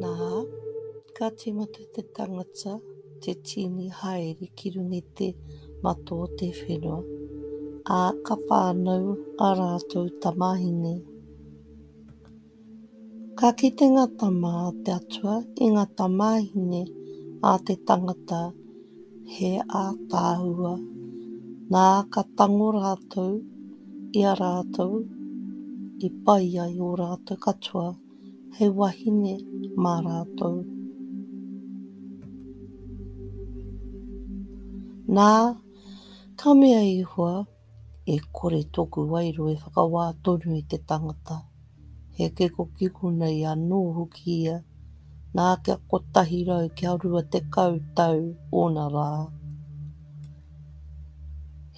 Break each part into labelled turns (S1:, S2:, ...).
S1: Nā, ka tīmata te tangata te tīni haere ki runga i te mato o te whenua, ā, ka whānau ā rātou tamāhine. Ka kite ngā tama a te Atua i ngā tamāhine a te tangata he ātaahua, nā, ka tango rātou i a rātou i pai ai ō rātou katoa hei wahine mā rātou. Nā, ka mea Ihua, E kore tōku wairua e whakawā tonu i te tangata. He kikokiko nei anō hoki ia, nā kia kotahi rau kia rua tekau tau ōna rā.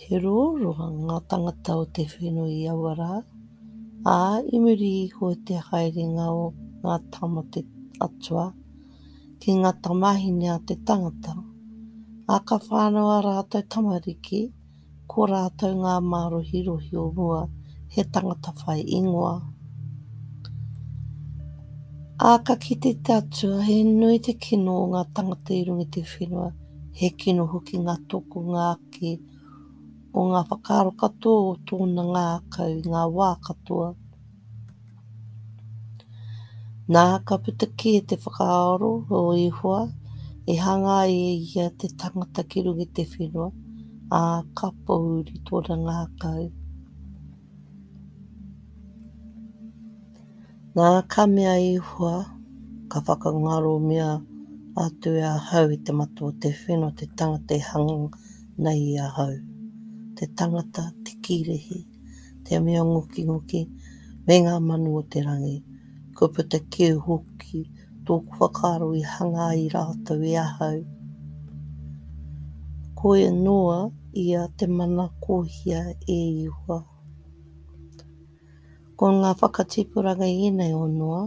S1: He roroa ngā tangata o te whenua i aua rā, ā, i muri iho i te haerenga o ngā tama atua ki ngā tamāhine a te tangata, ā, ka whānau ā rātou tamariki, Ko rātou ngā mārohirohi o mua, he tangata whai ingoa. Ā, ka kite te Atua, he nui te kino o ngā tangata i runga i te whenua, he kino hoki ngā tokonga ake o ngā whakaaro katoa o tōna ngākau i ngā wā katoa. Nā, ka puta kē te whakaaro o Ihoa, i hanga ai e ia te tangata ki runga i te whenua, ā, ka pōuri tōna ngākau. Nā, ka mea a Ihoa, Ka whakangaromia atu e ahau i te mata o te whenua te tangata e hanga nei i ahau, te tangata te kīrehe. te mea ngokingoki me ngā manu o te rangi. Kua puta kē hoki tōku whakaaro i hanga ai rātou e ahau. Koe noa ia te mana kōhia e Ihua. Ko ngā whakatipuranga ēnei o Noa,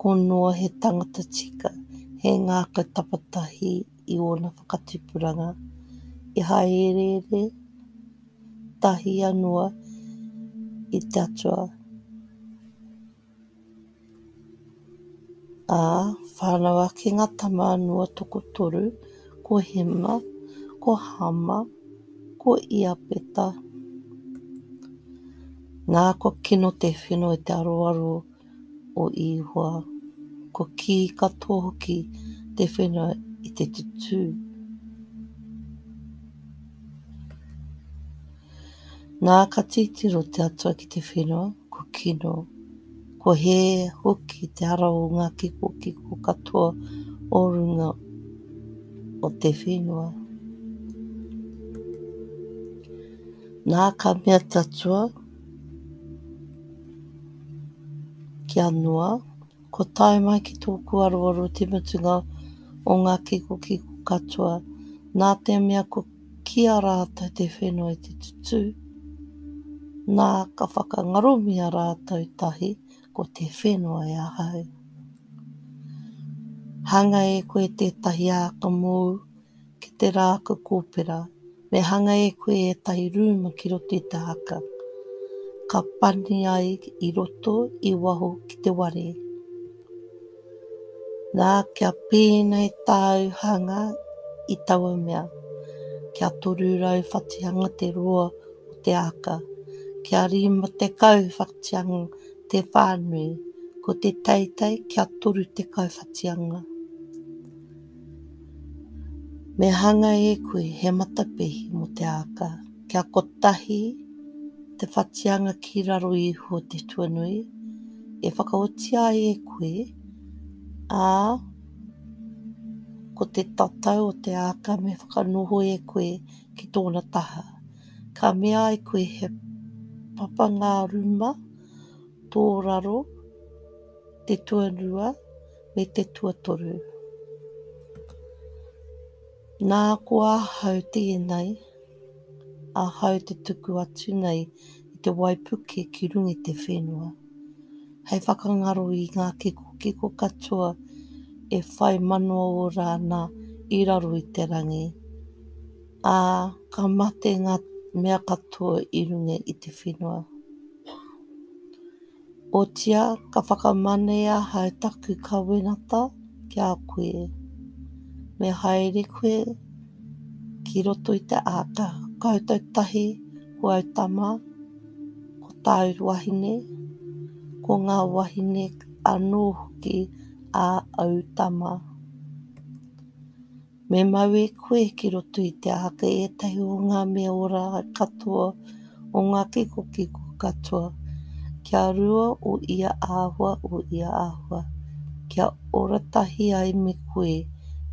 S1: ko Noa he tangata tika, he ngākau tapatahi i ōna whakatipuranga, i haereere, tahia noa i te Atua, ā, whānau ake ngā tama noa tokotoru, ko Hema, ko Hama, ko Iapeta. Nā, kua kino te whenua i te aroaro o Ihoa, ko kī katoa hoki te whenua i te tutū. Nā ka titiro te Atua ki te whenua, ko kino, ko hē hoki te ara o ngā kikokiko katoa o runga o te whenua. Nā ka mea te Atua, Kia noa, kua tae mai ki tōku aroaro te mutunga o ngā kikokiko katoa, nā te mea kua kī a rātou te whenua i te tutū, nā, ka whakangaromia rātou tahi, ko te whenua e ahau. Hāngai e koe tētahi āka mōu, ki te rākau kōpera, me hanga e koe ētahi rūma ki roto i te haka, ka pani ai i roto, i waho ki te ware. Nā, kia pēnei tāu hanga i taua mea, kia toru rau whatihanga te roa o te āka, kia rima tekau whatihanga te whānui, ko te teitei kia toru tekau whatihanga. Me hanga e koe he matapihi mō te āka, kia kotahi te whatianga ki raro iho te tuanui e whakaotia ai e koe, ā, ko te tatau o te āka me whakanoho e koe ki tōna taha. Ka mea ai koe he papanga ruma tō raro te tuanua, me te tuatoru. Nā, ko ahau tēnei, ahau te tuku atu nei i te waipuke ki runga i te whenua, hei whakangaro i ngā kikokiko katoa e whai manawa ora ana i raro i te rangi, ā, ka mate ngā mea katoa i runga i te whenua. Otiā, ka whakamane ahau taku kawenata ki a koe, me haere koe ki roto i te āta koutou tahi ko au tama, ko tāu wahine, ko ngā wahine anō hoki a au tama. Me mau e koe ki roto i te āhaka ētahi o ngā mea ora katoa o ngā kikokiko katoa, kia rua o ia āhua, o ia āhua, kia ora tahi ai me koe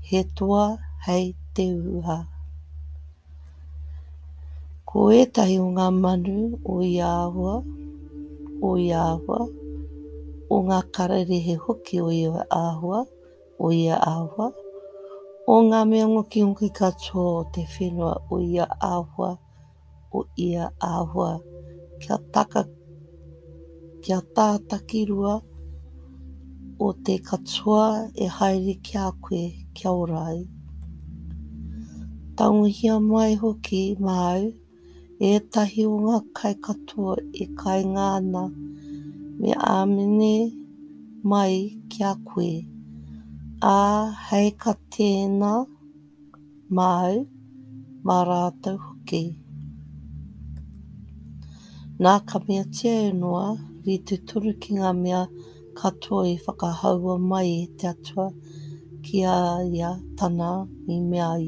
S1: he toa hei te uha. Ko ētahi o ngā manu o ia āhua, o ia āhua, o ngā kararehe hoki o ia āhua, o ia āhua, o ngā mea ngokingoki katoa o te whenua o ia āhua, o ia āhua, kia taka, kia tā takirua o te katoa e haere ki a koe kia ora ai. Tangohia mai hoki māu ētahi o ngā kai katoa e kainga ana me āmene mai ki a koe, ā, hei ka tēina māu, mā rātou hoki. Nā ka meatia e Noa, rite tonu ki ngā mea Ka toe whakahaua mai e te Atua ki a ia tana i mea ai.